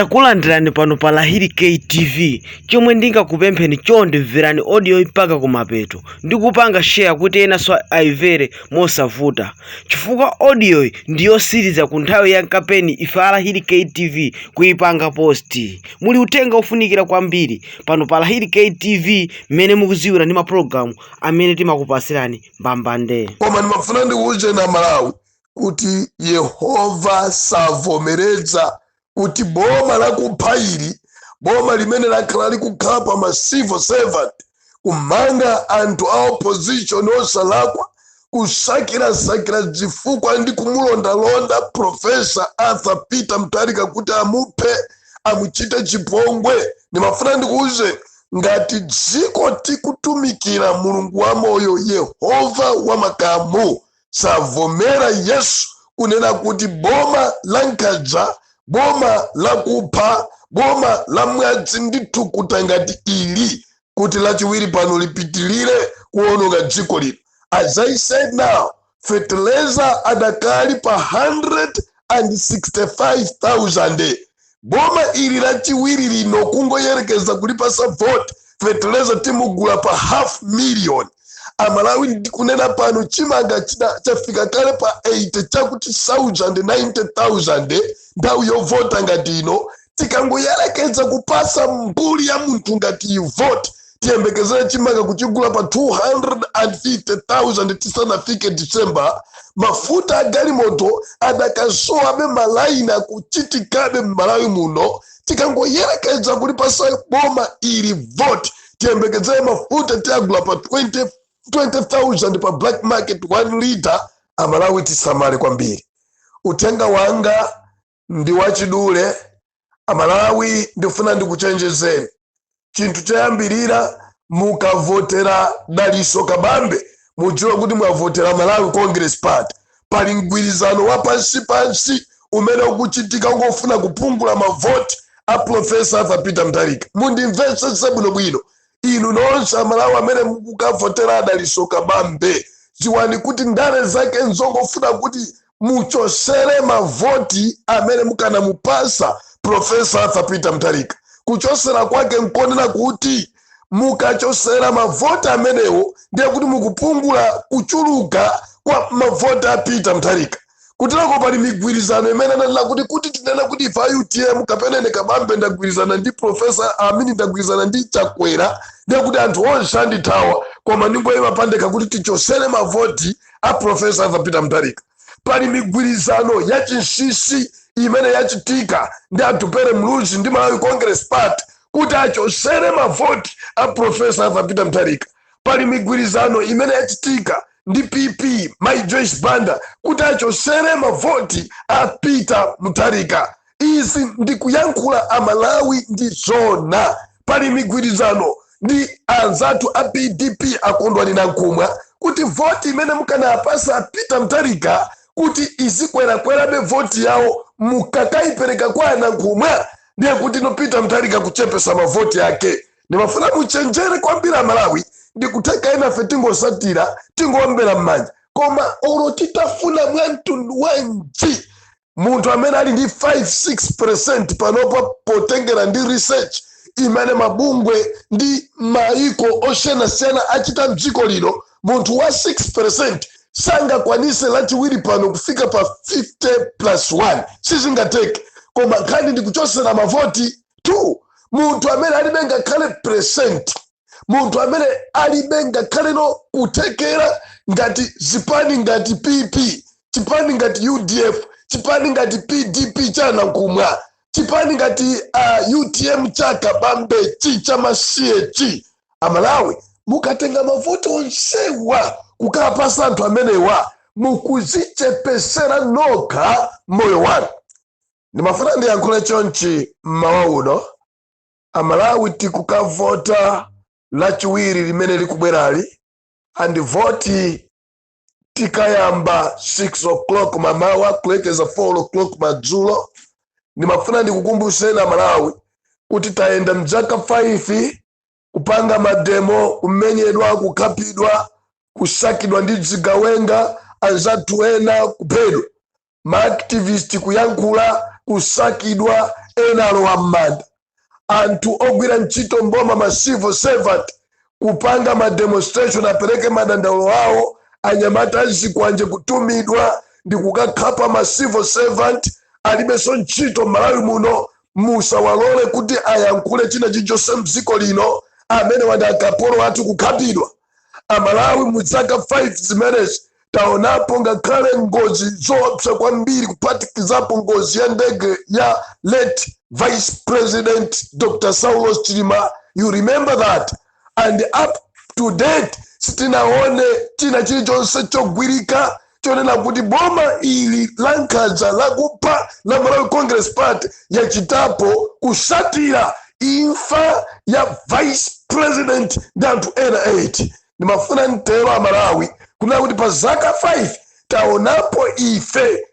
Takulandirani pano pa Lahiri K TV, chomwe ndingakupempheni chonde mverani audio yi mpaka kumapeto ndi kupanga share kuti enanso ayimvere mosavuta chifukwa audio yi ndi yosiriza ku nthawi ya kampeni ife a Lahiri K TV kuipanga post. Muli uthenga ofunikira kwambiri pano pa Lahiri K TV mmene mukuziwira ndi mapulogalamu amene timakupasirani mbambande. koma ndimafuna ndikuuzeni amalawi kuti yehova savomereza kuti boma lakupha ili boma limene lakhala likukhala kupha ma civil servant kumanga anthu a opposition osalakwa kusakirasakira zifukwa ndi kumulondalonda profesa arthur peter mutharika kuti amuphe amuchite chipongwe ndimafuna ndikuwuzeni ngati dziko tikutumikira mulungu wamoyo yehova wamakamu savomera Yesu kunena kuti boma la nkhanza, boma la kupha, boma la mwazi ndi thukuta ngati ili kuti lachiwiri pano lipitilire kuononga dziko lino. As I said now, feteleza adakali pa 165,000 Boma ili lachiwiri lino kungoyerekeza kulipasa vote feteleza timugula pa half million amalawi ndikunena pano chimanga chafika kale pa 80 chakuti sauzande 90000 nthawi yovota ngati ino tikangoyerekeza kupasa mbuli ya munthu ngati iyi vote tiyembekezere chimanga kuchigula pa 250,000 tisanafike December mafuta a galimoto adakasowabe malaini akuchitikabe m'malawi muno tikangoyerekeza kulipasa boma ili vote tiyembekezere mafuta tiyagula pa 20,000 pa black market 1 liter amalawi tisamale kwambiri uthenga wanga ndi wachidule amalawi ndifuna ndikuchenjezeni chinthu choyambirira mukavotera daliso kabambe mudziwe kuti mwavotera malawi congress party pali mgwirizano wa pansi pansi umene ukuchitika ongofuna kupungula mavoti a profesa arthur peter mutharika mundimvetsetse bwinobwino inu nonse amalawi amene mukukavotera a daliso kabambe dziwani kuti ndale zake nzongofuna kuti muchosere mavoti amene mukanamupasa profesa arthur peter mutharika kuchosera kwake nkonena kuti mukachosera mavoti amenewo ndiye kuti mukupungula kuchuluka kwa mavoti a peter mutharika kutiloko pali migwirizano imene anaona kuti kuti tinene kuti ife a utm kapena ine kabambe ndagwirizana ndi profesa amini ndagwirizana ndi chakwera ndiye kuti anthu onse andithawa koma ndingoyima pandekha kuti tichosere mavoti a profesa arthur peter mutharika pali migwirizano ya chinsisi imene yachitika ndi atupele muluzi ndi malawi congress party kuti achosere mavoti a profesa arthur peter mutharika pali migwirizano imene yachitika ndi pp mai joyce banda kuti achosere mavoti a peter mutharika izi ndi kuyankhula amalawi ndi zona pali migwirizano ndi anzathu a pdp a kondwani nankhumwa kuti voti imene mukanaapasa peter mutharika kuti izikwerakwerabe voti yawo mukakaipereka kwa a nankhumwa ndiye kuti ndi peter mutharika kuchepesa mavoti ake ndimafuna muchenjere kwambiri amalawi ndikutheka enafe tingosatira tingowombera m'manja koma olo titafuna mwa mtundu wanji munthu amene ali ndi 5-6 percent panopa potengera ndi research imene mabungwe ndi maiko osiyanasiyana achita mdziko lino munthu wa 6 percent sangakwanise lachiwiri pano kufika pa 50 plus 1 sizingatheke koma nkhani ndikuchosera mavoti 2 munthu amene alibe ngakhale percent munthu amene alibe ngakhale no kuthekera ngati zipani ngati pp chipani ngati udf chipani ngati pdp cha a nankhumwa chipani ngati uh, utm cha kabambe chi chamasiye chi amalawi mukatenga mavoti onsewa kukapasa anthu amenewa mukuzichepesera nokha moyo wanu ndimafuna ndiyankhule chonchi mmawa uno amalawi tikukavota lachiwiri limene likubwerali ndipo voti tikayamba 6 o'clock mamawa kulekeza 4 o'clock madzulo ndimafuna ndikukumbuseni amalawi kuti tayenda mzaka 5 kupanga mademo kumenyedwa kukhapidwa kusakidwa ndi dzigawenga anzathu ena kuphedwa ma activist kuyankhula kusakidwa ena alowa m'manda anthu ogwira ntchito mboma ma civil servant kupanga ma demonstration apereke madandaulo awo anyamata azikwanje kutumidwa ndi kukakhapa ma civil servant alibenso ntchito mmalawi muno musawalole kuti ayankhule china chilichonse mdziko lino amenewa ndi akapolo athu kukhapidwa amalawi mu zaka 5 zimenezi taonapo ngakhale ngozi zoopsa kwambiri kuphatikizapo ngozi ya ndege ya late vice president dr saulos chilima you remember that and up to date sitinaone china chilichonse chogwirika chonena kuti boma ili la nkhanza lakupha la malawi congress party yachitapo kusatira imfa ya vice president ndi anthu ena 8 ndimafuna mtero amalawi kunena kuti pa zaka 5 taonapo ife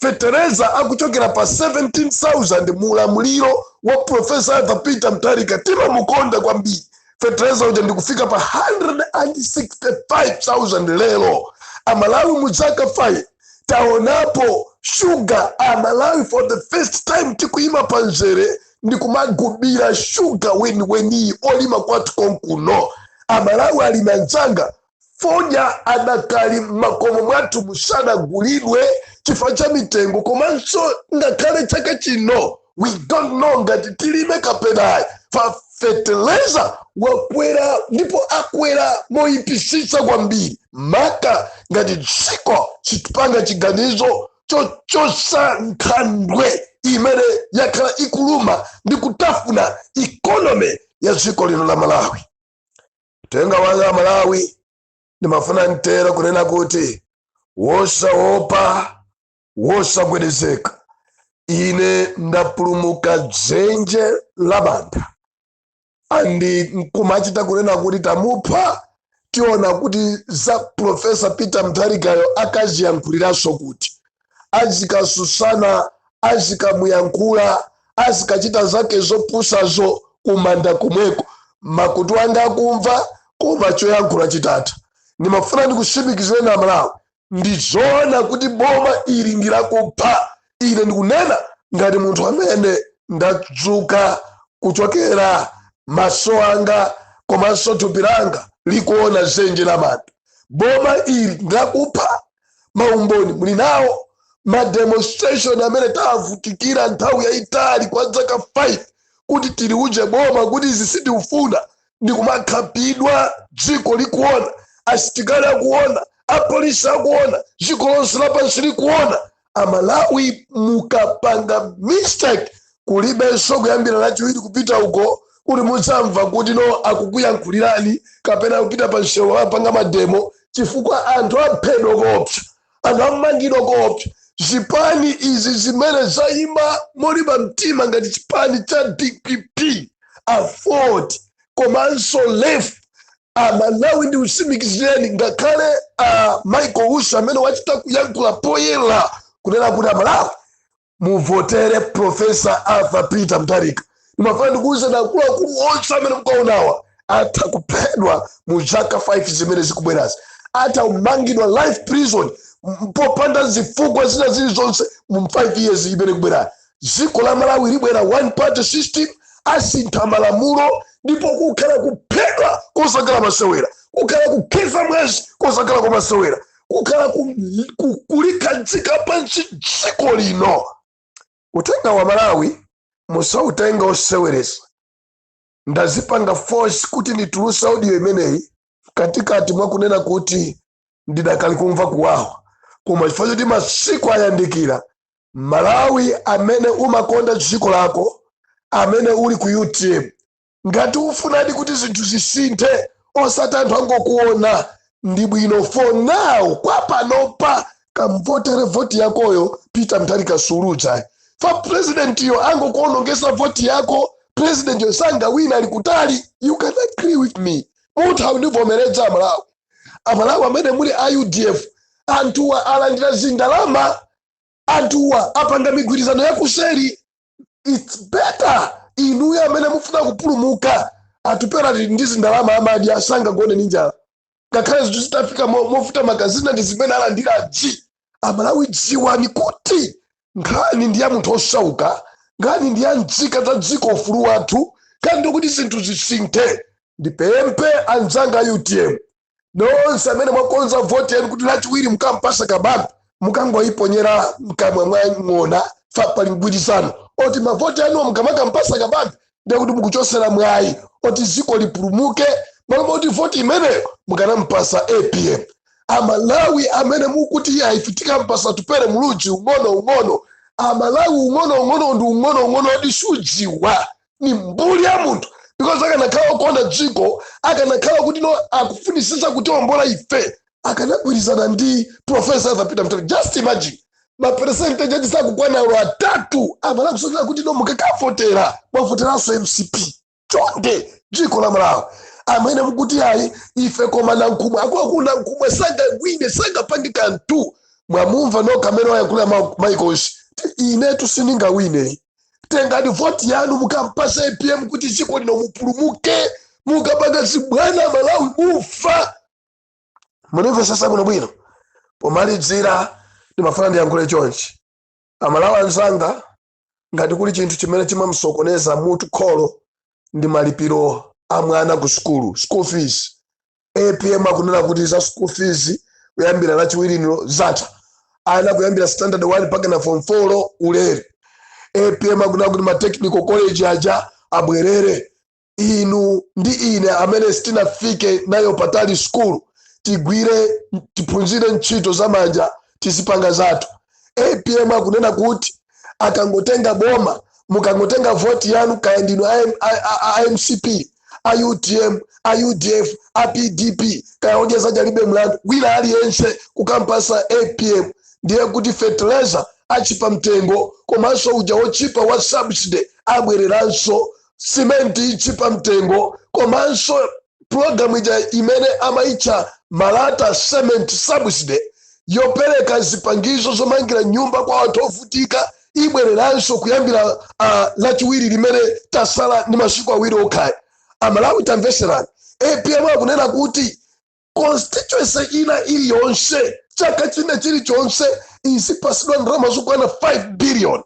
fetereza akuchokera pa 7000 mu ulamuliro wa profesa arthur peter mtharika timamukonda kwambiri fetereza uja ndikufika pa 165000 lero amalawi mu zaka 5 taonapo shuga amalawi for the first time tikuyima pa nzere ndikumagulira shuga weniweniyi olima kwathu konkuno amalawi alimi anzanga Fodya adakali m'makomo mwathu musadagulidwe chifukwa cha mitengo komanso ngakhale chaka chino we don't know ngati tilime kapena ayi pa feteleza wakwera ndipo akwera moyipisitsa kwambiri maka ngati dziko silipanga chiganizo chochotsa nkhandwe imene yakhala ikuluma ndi kutafuna ikonomi ya dziko lino la malawi Uthenga wanga Amalawi, ndimafuna mtero kunena kuti wosaopa, wosagwedezeka. Ine ndapulumuka dzenje la manda and kumachita kunena kuti tamupha tiona kuti za profesa peter mtharikayo akaziyankhulirenso kuti azikatsutsana azikamuyankhula azikachita zake zopusazo kumanda komweko makutu anga akumva koma choyankhula chitatha ndimafuna ndikusimikizireni amalawi ndizoona kuti boma ili ndilakupha ine ndikunena ngati munthu amene ndadzuka kuchokera maso anga komanso thupi langa likuona dzenje la manda boma ili ndilakupha maumboni muli nawo ma demonstration amene tavutikira nthawi yayitali kwa dzaka 5 kuti tiliuze boma kuti izi sitikufuna ndi kumakhapidwa dziko likuona asitikali akuona apolisi akuona dziko lonse lapansi likuona amalawi mukapanga mistake kulibenso kuyambira lachiwiri kupita uko kuti mudzamva kuti no akukuyankhulirani kapena kupita pa msewu kukapanga mademo chifukwa anthu aphedwa koopsa anthu amangidwa koopsa zipani izi zimene zayima molimba mtima ngati chipani cha dpp aford komanso lef amalawi ndikusimikizireni ngakhale a michael usi amene wachita kuyankhula poyera kunena kuti amalawi muvotere profesa arthur peter mutharika ndimafuna ndikuwuzeni akuluakulu onse amene mukaonawa atha kuphedwa mu zaka 5 zimene zikubwerazi atha kumangidwa life prison m- popanda zifukwa zina zilizonse mu 5 years imene ikubwerayo dziko la malawi libwera one party system asintha malamulo ndipo kukhala kuphedwa kosakhala masewera kukhala kukhetsa mwazi kosakhala kwamasewera kukhala ku- ku- kulikhazika pansi dziko lino uthengawu amalawi musautenge oseweresa ndazipanga force kuti ndituluse audio imeneyi mkatikati mwa kunena kuti ndidakali kumva kuwawa koma chifukwa choti masiku ayandikira malawi amene umakonda dziko lako amene uli ku utm ngati ufunadi kuti zinthu zisinthe osati anthu angokuona ndi bwino for now kwa panopa kamvotere voti yakoyo peter mutharika suluza fa presidentiyo angokuonongesa voti yako presidentiyo sangawina ali kutali you can agree with me mutha kundivomeredza amalawi amalawi amene muli a udf anthuwa alandira zindalama anthuwa apanga migwirizano yakuseri its better inuyo amene mufuna kupulumuka atupele ali ndi zindalama amadya sangagone ndi njala ngakhale zinthu zitafika mo- movuta magazina ndi zimene alandira g amalawi dziwani kuti nkhani ndi ya munthu osauka nkhani ndi ya nzika za dziko ufulu wathu nkhani ndikuti zinthu zisinthe ndipemphe anzanga a utm nonse amene mwakonza voti yanu kuti lachiwiri mukampasa kabambe mukangoyiponyera mkamwa mwa ng'ona fa pali mgwirizano oti mavoti anuwo mukamakampasa kabambe ndiye kuti mukuchosera mwayi oti dziko lipulumuke malo moti voti imeneyo mukanampasa apm amalawi amene mukuti ayi ife tikampasa atupele muluzi ung'ono ung'ono amalawi ung'ono ung'ono ndi ung'ono ung'ono oti sudziwa ni mbuli ya munthu because akanakhala okonda dziko akanakhala kuti no akufunisisa kutiombola ife akanagwirizana ndi profesa arthur peter mutharika just imagine maperesentaji ake sakukwana olo atatu amalawi kusokera kuti no mukakavotera mwavoteranso mcp chonde dziko la malawi amene mukuti ayi ife koma nankhumwa akuluakulu nankhumwa sangawine sangapange kanthu mwamumva nokha amene wayankhula ma- michael usi kuti inetu sindingawine tengani voti yanu mukampasa apm kuti dziko lino mupulumuke mukapanga zibwana malawi mufa mundimvesese bwinobwino pomalidzira ndimafuna ndiyankhule chonchi amalawi anzanga ngati kuli chinthu chimene chimamsokoneza mutu kholo ndi malipiro a mwana ku sukulu school fees apm akunena kuti za school fees kuyambira lachiwiriniro zatha ana kuyambira standard 1 mpaka na form 4 ulere apm akunena kuti ma technical college aja abwerere inu ndi ine amene sitinafike nayo patali sukulu tigwire tiphunzire ntchito za manja tizipanga zathu apm akunena kuti akangotenga boma mukangotenga voti yanu kaya ndinu a M- a- a- a- a mcp a utm a udf a pdp kaya odya zake alibe mlandu wina aliyense kukampasa apm ndiye kuti fertilizer achipa mtengo komanso uja wochipa wa subsidy abwereranso simenti itchipa mtengo komanso pulogalamu ija imene amayitcha malata cement subsidy yopereka zipangizo zomangira nyumba kwa anthu ovutika ibwereranso kuyambira uh, lachiwiri limene tasala ndi masiku awiri okha amalawi tamveserani apm akunena kuti constituency ina iliyonse chaka china chilichonse izipasidwa ndalama zokwana 5 billion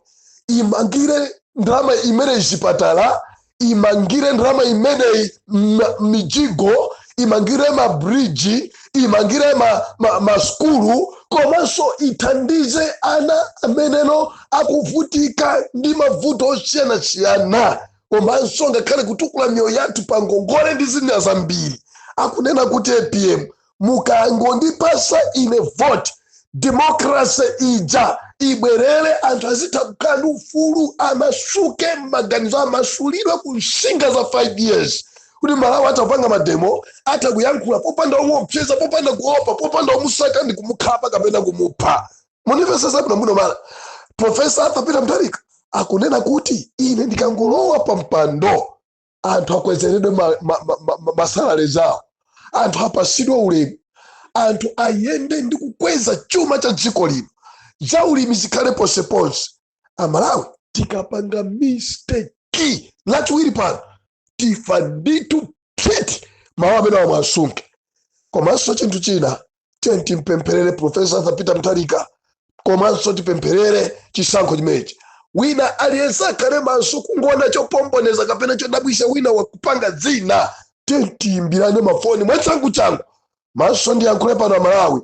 imangire ndalama imeneyi zipatala imangire ndalama imeneyi m- mijigo imangire mabridji imangire ma, ma, maskulu komanso ithandize ana amenewo akuvutika ndi mavuto osiyanasiyana komanso ngakhale kutukula miyoyo yathu pa ngongole ndi zina zambiri akunena kuti apm mukangondipasa ine vote democracy ija ibwerere anthu azitha kukhala ndi ufulu amasuke mmaganizo amasulidwe ku nsinga za 5 years kuti amalawi atha kupanga mademo atha kuyankhula popanda omuopseza popanda kuopa popanda omusaka ndi kumukhapa kapena kumupha mundimvesese bwinobwino amalawi profesa arthur peter mutharika akunena kuti ine ndikangolowa pa mpando anthu akwezeredwe masalale ma, ma, ma, ma, masalary zawo anthu apasidwe ulemu anthu ayende ndi kukweza chuma cha dziko lino za ulimi zikhale ponseponse amalawi tikapanga misteki lachiwiri pano tifa ndithu phiti mawu amenewa muwasunge komanso chinthu china tiyeni timpempherere profesa arthur peter mutharika komanso tipempherere chisankho chimenechi wina aliyense akhale maso kungoona chopombeneza kapena chodabwisa wina akupanga zina tiyeni tiyimbirane mafoni mwachangu changu maso ndiyankhule pano amalawi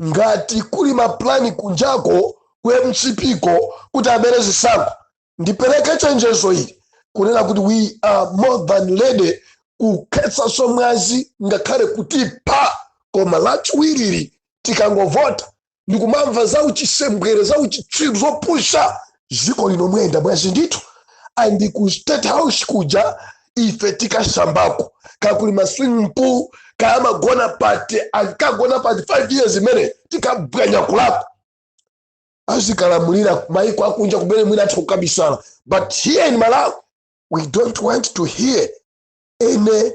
ngati kuli maplani kunjako ku mcp ko kuti abere zisankho ndipereke chenjezo ili kunena kuti we are more than ready kukhetsa mwazi ngakhale kuti pa koma lachiwiriri tikangovota ndikumamva za uchisembwere za uchitsiru zopusha dziko lino muyenda mwazi ndithu and ku state house kuja ife tikasambako kaya kuli ma swimming pool kaya amagona pati akagona pati 5 years imene tikabwanya kulipo azikalamulira maiko akunja kumene mwina atha kukabisala but here in malawi we don't want to hear any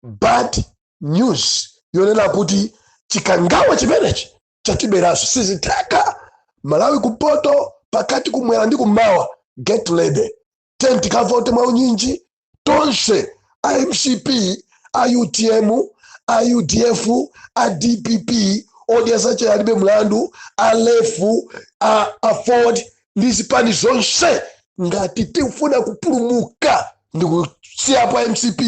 bad news yonena kuti chikangawa chimenechi chatiberanso sizitheka malawi kumpoto pakati kumwera ndi kummawa get ready 10 tikavote mwa unyinji tonse a mcp a utm a udf a dpp odya zache alibe mlandu alefu a aford ndi zipani zonse ngati tifuna kupulumuka ndikusiyapa a mcp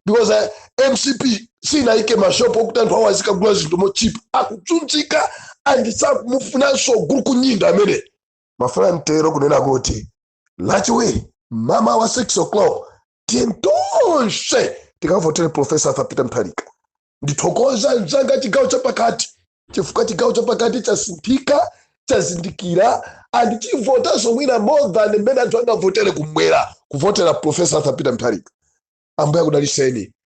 because mcp sinayike mashopu okuti anthu awo azikagula zinthu mochipa akuzunzika and sakumufunanso gulukunyinda amene amafuna mtendere kunena kuti lachiwiri mmawa wa 6 o'clock tiyeni tonse tikavotere profesa arthur peter mutharika ndithokoza anzanga a chigawo chapakati chifukwa chigawo chapakati chasinthika chazindikira and chivotanso mwina more than mmene anthu angavotere kumwera kuvotera profesa arthur peter mutharika ambuye akudaliseni